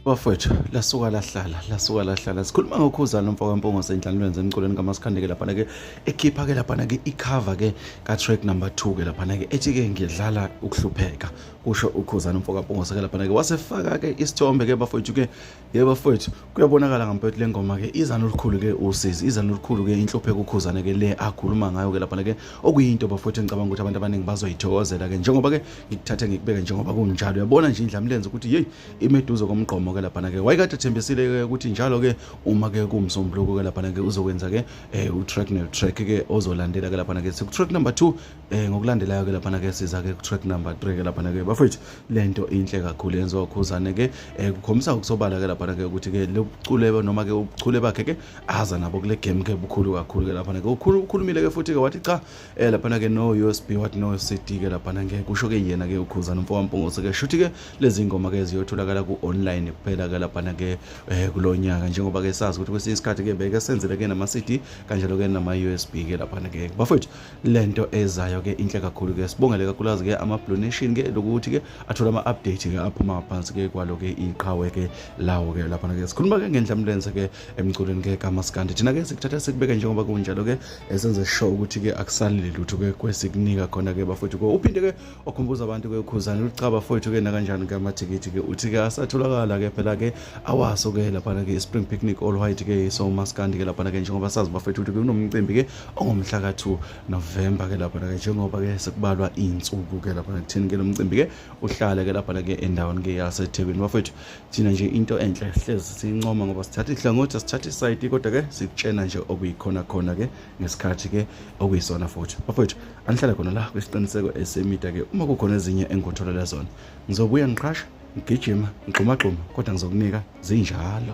bafowethu lasuka lahlala lasuka lahlala sikhuluma ngokhuza lo mfo kampongo sendlalweni zemculweni kamasichandeke laphana-ke ekhipha-ke laphana-ke ikhava-ke ka-track number two ke laphana-ke ethi-ke ngidlala ukuhlupheka kusho ukhuzana umfo kampongo seke laphana-ke wasefaka-ke isithombe-ke bafowethu-ke yebo fethu kuyabonakala ngampethu le ngoma ke iza nolukhulu ke usizi iza nolukhulu ke inhluphe kukhuzane ke le akhuluma ngayo ke lapha ke okuyinto bafowethu engicabanga ukuthi abantu abaningi bazoyithokozela ke njengoba ke ngikuthathe ngikubeke njengoba kunjalo uyabona nje indlamlenze ukuthi hey imeduze komgqomo ke lapha ke wayekade thembisile ke ukuthi njalo ke uma ke kumsombuluko ke lapha ke uzokwenza ke eh, u track ne track ke ozolandela ke lapha ke siku track number 2 Eh ngokulandelayo ke laphana ke siza ke ku track number 3 ke laphana ke bafethu lento inhle kakhulu yenziwa ukhuzane ke eh kukhombisa ukusobala ke laphana ke ukuthi ke lobucule noma ke ubuchule bakhe ke aza nabo kule game ke bukhulu kakhulu ke laphana ke ukhulu ukhulumile ke futhi ke wathi cha eh laphana ke no USB what no CD ke laphana ke kusho ke yena ke ukhuzane mfo wampungose ke shuthi ke lezi ngoma ke ziyotholakala ku online kuphela ke laphana ke eh kulonyaka njengoba ke sazi ukuthi kwesinye isikhathi ke beke senzele ke nama CD kanjalo ke nama USB ke laphana ke bafethu lento ezayo ke inhle kakhulu ke sibongele kakhulukazi ke ama blue nation ke lokuthi ke athola ama update ke aphuma phansi ke kwalo ke iqhawe ke lawo ke lapha ke sikhuluma ke ngenhla mlenze ke emculweni ke kamaskandi thina ke sikuthatha sikubeke njengoba kunjalo ke esenze show ukuthi ke akusalile lutho ke kwesikunika khona ke bafowethu ke uphinde ke okhumbuza abantu ke ukhuzana ulichaba fowethu ke nakanjani ke amathikithi ke uthi ke asatholakala ke phela ke awaso ke lapha ke spring picnic all white ke so maskandi ke lapha ke njengoba sazi bafowethu ukuthi kunomcimbi ke ongomhla ka-2 novemba ke lapha ke njengoba ke sekubalwa iy'nsuku ke lapha kuthini ke lo mcimbi ke uhlale ke lapha ke endaweni ke yasethekwini bafethu thina nje into enhle hlezi siyincoma ngoba sithatha ihlangothi asithatha isayidi kodwa ke sikutshena nje okuyikhona khona ke ngesikhathi ke okuyisona futhi bafethu anihlale khona la kwisiqiniseko esemida ke uma kukhona ezinye engikutholela zona ngizobuya ngiqhasha ngigijima ngigxumagxuma kodwa ngizokunika zinjalo